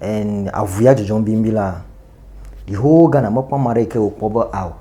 en avu ya dzudzɔm bimbi la, Yehowa Ghana mekpɔ ame aɖe yi ke wòkpɔ be ao.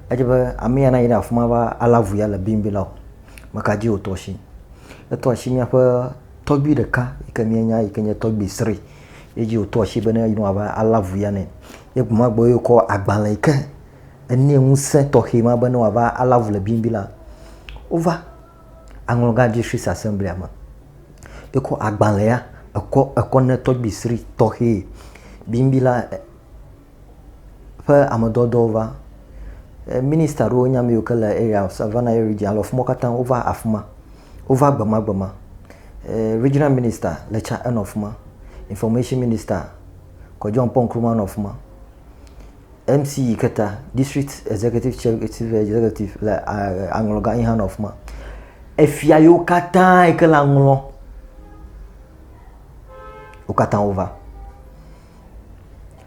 Edze be ame ya nayi ɖe afi ma va alé avu ya le bimbi la o. Meka dzi wòtɔ asi? Etɔ asi míaƒe tɔgbui ɖeka yi ke míenya yi ke nye tɔgbui Sri ye dzi wòtɔ asi be ne yi ne wòava alé avu ya nɛ. Ye gbe ma gbe ye wòkɔ agbalẽ yi ke enɛ ŋusẽ tɔxɛ ma be ne wòava alé avu le bimbi la. Wova aŋlɔ gã dzi Swiss Assemblia me. Ekɔ agbalẽ ya ekɔ ekɔ ne tɔgbi sri tɔxɛ bimbi la ƒe amedɔdɔwo va. Minista ɖewo nye ame yiwo ke le area Savannah area dzi alo afi ma katã wova afi ma. Wova gbemagbema. Regional minister le tsa enɔ afi ma. Information minister Kɔ John Paul Nkrumah nɔ afi ma. MC Iketa, District Executive Chief Executive le aŋlɔ gã yi hã nɔ afi ma. Efia yiwo katã yi ke le aŋlɔ, wo katã wova.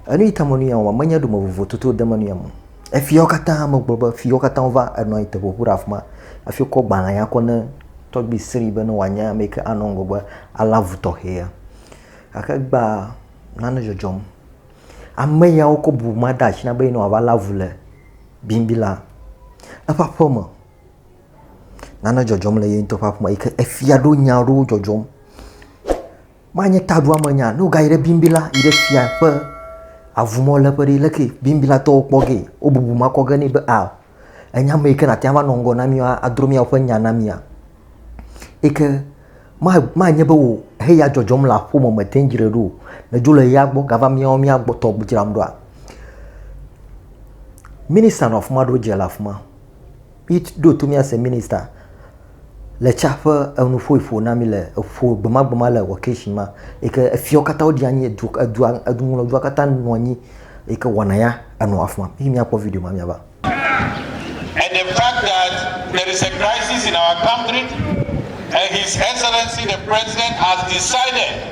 Enu yi ta me nu ya wɔm, menye ɖome vovo toto de me nu ya me. Efiawo katã megblɔ be fiawo katã wova enɔ anyi te ƒoƒu ɖe afi ma hafi wokɔ gbalẽ ya kɔ ne tɔgbi sri be ne wòanye ame yi ke anɔ ŋgɔgbe alé avu tɔxɛ ya. Gake gbea nane dzɔdzɔm. Ame ya wokɔ bu ma ɖe asi na be ne wòava lé avu le bimbi la, eƒe aƒeme, nane dzɔdzɔm le ye ŋutɔ ƒe aƒeme yi ke efia ɖo nya aɖewo dzɔdzɔm. Manye taɖoamenya ne wogayi ɖe bimbi la yi ɖe fia ƒe avumɔlɔ̃ƒe ɖi, leke bimbilatɔwo kpɔ gee? Wobubu ma kɔ ge nɛ be aa. Ènya ame yi ke nàte ŋu ava nɔ ŋgɔ na mí adro mía woƒe nya na mía? Yi ke manye be wò heya dzɔdzɔm le aƒe me mete ŋu dzre ɖo o. Nèdzo le ya gbɔ gava míawo míagbɔtɔ dzram ɖoa? Minista nɔ afi ma ɖo dze le afi ma. Míɖo to míase minista. le tsa ƒe enu ƒoe ƒo na mi le eƒo gbemagbema le wɔkeshi ma yi ke efiawo katã wodi anyi edu edua eduŋlɔdua katã nɔ anyi yi ke wɔna ya enɔ afima yi miakpɔ video ma miava and the fact that there is a crisis in our country and his excellency the president has decided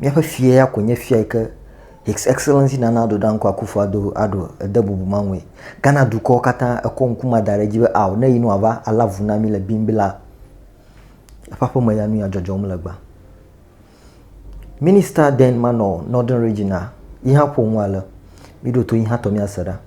Míaƒe fia ya koe nye fia yi ke His Excellency Nana Addo Dankwa Akufo Addo Addo ede bubu ma ŋue. Ghana dukɔ katã ekɔ ŋku ma da ɖe edzi be ao ne yi ne wòava alé avu na mí le Bimbila eƒe aƒeme ya nu ya dzɔdzɔm le gbea. Minister then manɔ Northern Region a yi hã ƒo nu ale, míɖo to yi hã tɔ míase ɖa.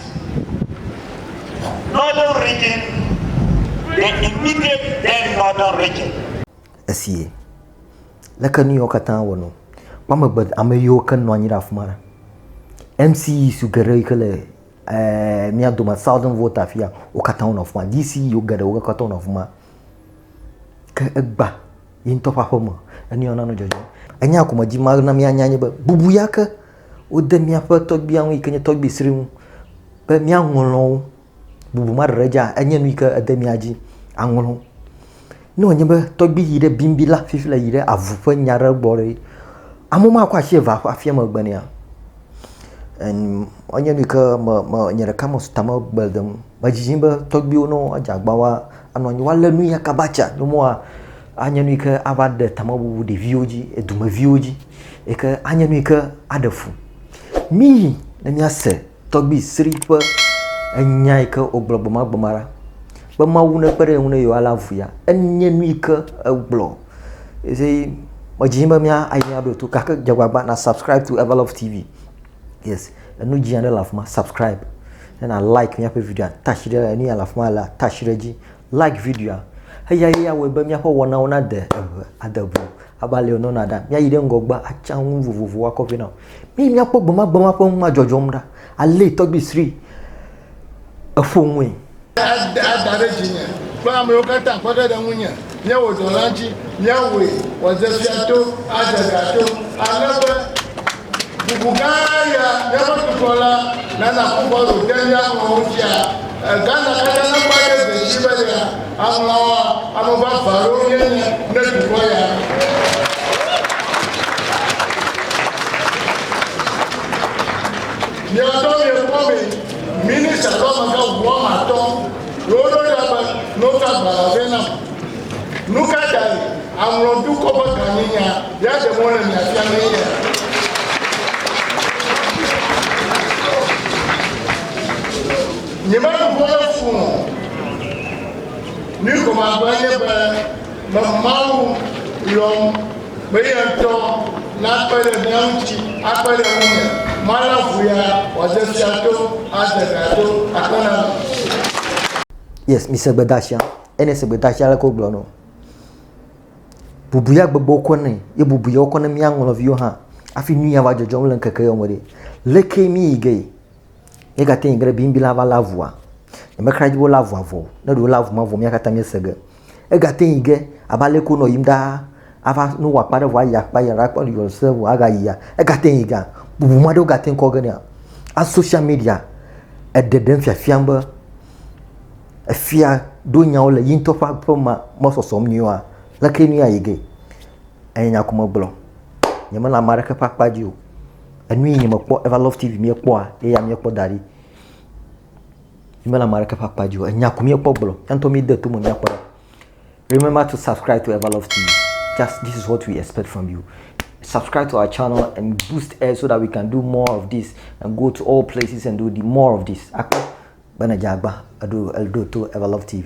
Northern region, the immediate then northern region. Esie. Leke nu yawo katã wɔ nɔ? Kpɔ amegbe ame yiwo ke nɔ anyi ɖe afi ma. MCE su geɖe yi ke le ɛɛ mía dome southern vote afia wo katã wonɔ afi ma. DCE wo geɖe wo katã wonɔ afi ma. Ke egbã ye ŋutɔ ƒe aƒe me. Enu ya nanɔ dzɔdzɔm. Enya ko me dim ale na míanya nye be, bubu ya ke wode míaƒe tɔgbia ŋu yi ke nye tɔgbi sri ŋu be míaŋlɔ wo. Bubu ma ɖeɖe dzea, enye nu yi ke ede mía dzi aŋlɔ. Ne wònye be tɔgbi yi ɖe bim bi la fifi le yi ɖe avu ƒe nya ɖe gbɔ ɖe, amewo makɔ asi eve aƒe afia megbe nɛa? en enye nu yi ke me me nye ɖeka me ta megbe dem o. Medzidzim be tɔgbuiwo ne woadze agbagba woa anɔ anyi woalé nu ya kaba tsa ne woa anye nu yi ke ava ɖe tamebubu ɖeviwo dzi edumeviwo dzi yi ke anye nu yi ke aɖe fu. Miyi ne míase tɔgbui sri ƒe enya yi ke wogblɔ gbemagbe ma ɖa be Mawu nekpe ɖe ye ŋu ne yewoalé avu ya. Enye nu yi ke egblɔ. Evi medzi be mía ayi aɖo to gake dze gbagba na subscribe to Everlove TV. Yes, enu dzi aɖe le afi ma subscribe. Ne na like míaƒe video atashi ɖe enu ya le afi ma le atashi ɖe dzi. Like videoa. Eya ye awɔe be míaƒe wɔnawo nade eŋu ade ŋu. Aba le nɔna ɖa. Míayi ɖe ŋgɔgbe atsa nu vovovowo akɔ vɛ na wo. Mi míakpɔ gbemagbema ƒe ŋu ma dzɔdzɔm ɖa. Alé tɔgbui sri eƒo ŋui. Ada ɖe dzinye kple amewo katã kpe ge ɖe ŋunye nye wò dɔla ŋuti, míawɔe wòadze fia to, adze ga to, ale be bubu gã ya, míaƒe dukɔ la, nana ƒu gbɔlo de mía ŋlɔwo fia. Gaza katã nakpɔ ɖe dzesi be nye alɔ̃a, ame vavã aɖewo míenye ne dukɔ ya. Mia ŋutɔ miekpɔ be minista alo amegã ʋuame atɔ̃ ɖewo ɖo ɖa be, Noka agbalẽa vɛ nam. Nu ka tae aŋlɔ dukɔ ƒe gãnyenya be aɖe mɔ le mia fiamee ya? Nyemeɖu ƒe le fũ o. Nu gɔme agbe nye be me Mawu yɔm be ye ŋutɔ nakpe ɖe mía ŋuti akpe ɖe ŋunye malé avu ya wòade fia to ade gã to akpe na mi. Yes, mise gbedasia. Ene se gbeta tsi aleke wogblɔ nɔ. Bubu ya gbegbe wokɔ nɛ, ye bubu ya wokɔ ne mía ŋlɔviwo hã afi nu ya va dzɔdzɔm le ŋkeke ya me ɖe. Leke mi yi ge? Ye gate yi ge ɖe biŋbi la va lé avua. Nyemexra dzi be wolé avua vɔ o. Ne ɖe wolé avu ma vɔ mía katã míese ge. Egate yi ge abe aleke wonɔ yim ɖaa ava ne wowɔ akpa ɖe vɔ ayi akpa ya ɖakpɔ ne yewo se vɔ agayia. Egate yi gea bubu maɖewo gate kɔ ge nɛa. A social media eɖe ɖem fiafiam be. Efia ɖo nyawo le yi ŋutɔ ƒe aƒe me me sɔsɔm nyuie oa, leke nue ayi ge? Enye nya ko megblɔ. Nyemele ame aɖeke ƒe akpa dzi o. Enu yi nye mekpɔ Evalove TV míekpɔa ye ya míekpɔ da ɖi. Mímele ame aɖeke ƒe akpa dzi o. Enya ko míekpɔ gblɔ. Míawo ŋutɔ míede to me míakpɔ ɖa. Remember to subscribe to Evalove TV. Just this is what we expect from you. Subscribe to our channel and boost us so that we can do more of this and go to all places and do the more of this. Akpɔ Be ne dze agba eɖo eɖo to Ever Love TV.